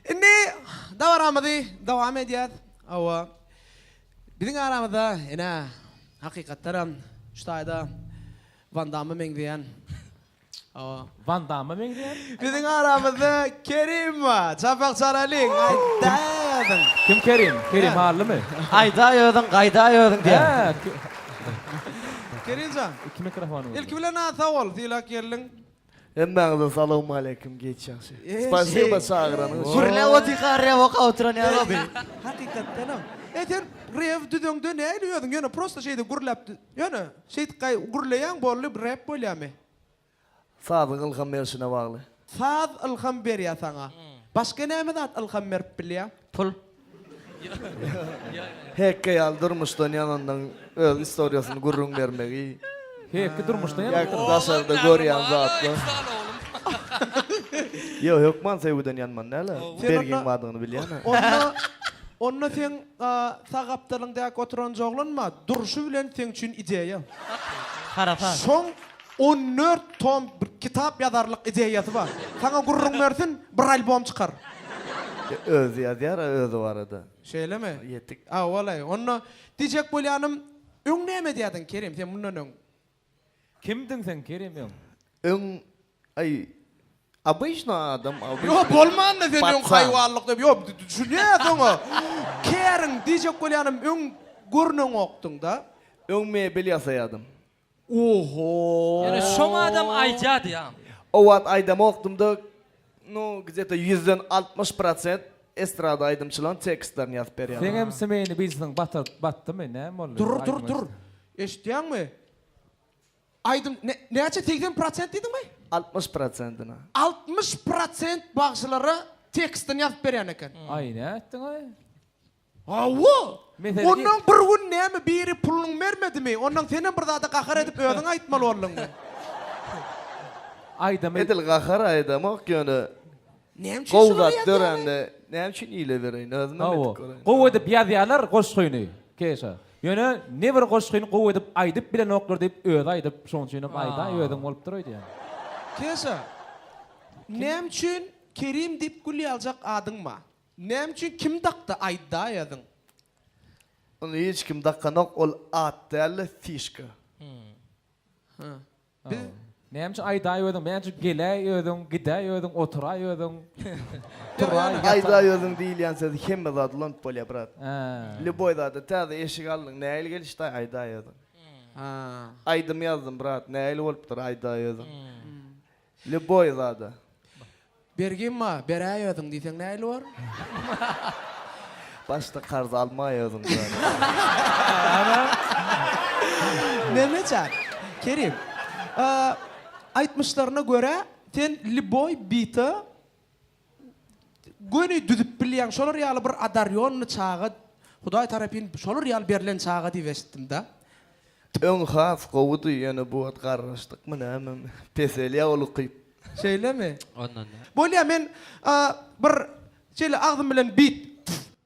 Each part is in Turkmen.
Indi dabaramyzy dowam edýäs. Hawa, biziň aramyzda ene, hakykatdanam şu taýda Wan Damma meňzeýän, hawa, Wan Damma meňzeýän? Biziň aramyzda Kerim bar. Çapak çalalyň, aýdaý özüň. Kim Kerim? Kerim Hallymy? Aýdaý özüň, gaýdaý özüň diýýär. Kerimjan, ilki bilen-ä sag bol, sylap geldiň. Hemmäňize salowmaleýkim giç ýagşy. Spasiba çagyranyň üçin. Gürläp otyka rew okap oturan ýaly oldy. Hakykatdanam. E sen rew düzeňde näli özüň ýöne prosta şeýde gürläp ýöne şeýdip gaý gürleýäň boldy rep bolýamy. Sazyň ylham berşine bagly. Saz ylham berýä saňa. Başga näme zat ylham berip bilýä? Pul. Hekge ýaly durmuşdan ýananyň öz istoriýasyny gürrüň bermegi. Hekge durmuşdan ýanyp Ýa oturmy? daşarda görýän zatlar. Ýok, hökman söýgüden ýanman däl-ä. Sen Bergiň onda- badygyny bilýän-ä. Onda, onda seň a, sag gapdalyň däki oturanjy oglan-ma, durşy bilen seň üçin ideýa. Harasat. Şoň, On dört tom bir kitap ýazarlyk ideýasy bar. Saňa gürrüň bersin, bir albom çykar. E, özi ýazýar-a özi barada. Şeýlemi? Ýetik. Hawa-laý. Onda, diýjek bolýanym, öň näme edýärdiň, Kerim, sen mundan öň? Kimdiň sen, Kerim, öň? Öň, aý, obyçny adam, obyçny. Ýok, bolmanda sen öň haýwanlyk diýip, ýok, düşünýäs oňa. Kerim, diýjek bolýanym, öň görneňokdyň-da? Öň mebel ýasaýardym. Oho. Ýöne şoň adam aýdýady ýa. O wagt aýdamokdymda nu gdeta ýüzden altmyş prosent estrada aýdymçylaň tekstlerini ýazyp berýädim. Seňem smeýni birsiniň batyr batdymy näme boldy Dur dur aýdym dur. aýtma. Eşitýäňmi? Aýdym ne näçe segsen prosent diýdiňmi? Altmyş prosentini. Altmyş prosent bagşylara tekstini ýazyp berýän eken. Aý nätdiňaý. Hawa! Meselem, ir. Onnoň bir gün näme biri puluny bermedimi, onnoň senem bir zada gahar edip özüň aýtmaly bolduňmy? Aýdamy. Edil gahar aýdamok ýöne Näme üçin gowy şuny zat ýazýaňyz? dörände näme üçin ile bereýin özümem Hawa. edip göräýin. Gowy edip ýazýarlar goşgyny Keşa. Ýöne ne bir goşgyny gowy edip aýdyp bilenoklar diýip özi aýdyp şoň üçin hem aýdaý özüň bolupdyr öýdýän. Keşa. Näme üçin Kerim diýip gül ýaljak adyň bar? Näme üçin kim dakdy aýda ýazyň. Ony hiç kim dakanok ol at dälde fişka. Hä. Biz. Näme üçin aýdaý özüň näme üçin geläý özüň gidäý özüň oturaý özüň turaý ýataý. Aýdaý özüň diýilýän söz hemme zat ulanyp bolýar brat. Lýuboý zada täze eşik aldyň nähili gelişdaý aýdaý özüň. Aýdym ýazdym brat nähili bolupdyr aýdaý özüň. Lýuboý zada. Bergimma, beräý özüň diýseň nähili bor? Başda karz almaý özüň zada. Mehmetjan, Kerim, aýtmyşlaryna görä, sen Lýuboý bita göni düzüp bilýän şolar ýaly bir adarýonly çaga Hudaý tarapyn şolar ýaly berlen çaga diýip eşitdim-de. Öň has gowudy, ýöne bu wagt garraşdykmy nämemi, peselýär ol ukyp. Şeýlemi? Ondan däl. Bolýar, men bir şeýle agzym bilen bit.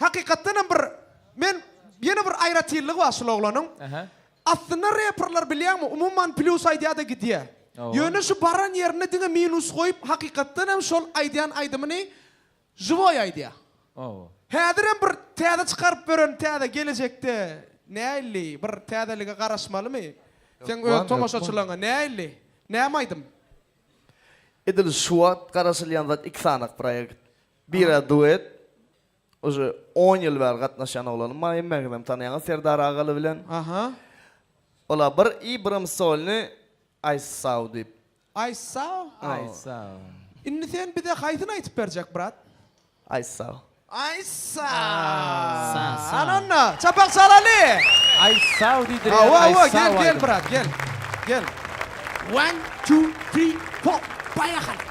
Hakykatdan hem bir men ýene bir aýratynlygy bar şul oglanyň. Aha. Aslynda reperler bilýäňmi umuman plýus aýdýada gidýä. Owo. Ýöne şu baran ýerinde diňe minus goýup hakykatdan hem şol aýdýan aýdymyny žiwoý aýdýa. Owo. Häzir hem bir täze çykaryp beren täze gelejekde näilli bir täzelige garaşmalymy? Seň öz tomaşaçylaryňa näilli? Näme aýdym? Edil şu wagt garaşylýan zat iki sanyk proýekt. Bira duet uje on ýyl bäri gatnaşýan oglanym bar hemme sizem tanýaňyz Serdar Agaly bilen. Aha. Ola bir i birim solny aýt saw diýip. Aýt saw? Aýt saw. Indi sen bize haýsyny aýtyp berjek brat? Aýt saw. Aýt saw. Ana onda çapak çalaly. Aýt saw diýdiler. Hawa hawa gel gel brat gel. Gel. One two three four paýahaly.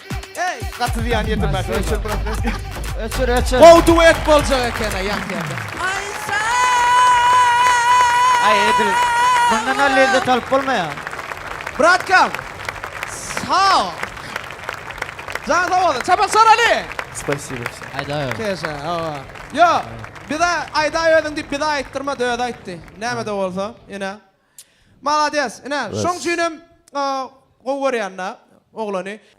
Gaty zyýan ýetirmän öçür biraz öçür. Öçür öçür. Gowy duet boljak eken a ýat ýerde. Aýşa! Aý edil. Mundan da lezzet alyp bolmaýar. Bratkam. Sag ol. Jan sag ol. Çapak soraly. Spasibo. Aýda. Keşe. Awa. Yo. Bize aýda özüň diýip bize aýtdyrma da özi aýtdy. Näme de bolsa. Ine. Malades. Ine. Şoň üçin hem gowy görýän da oglany.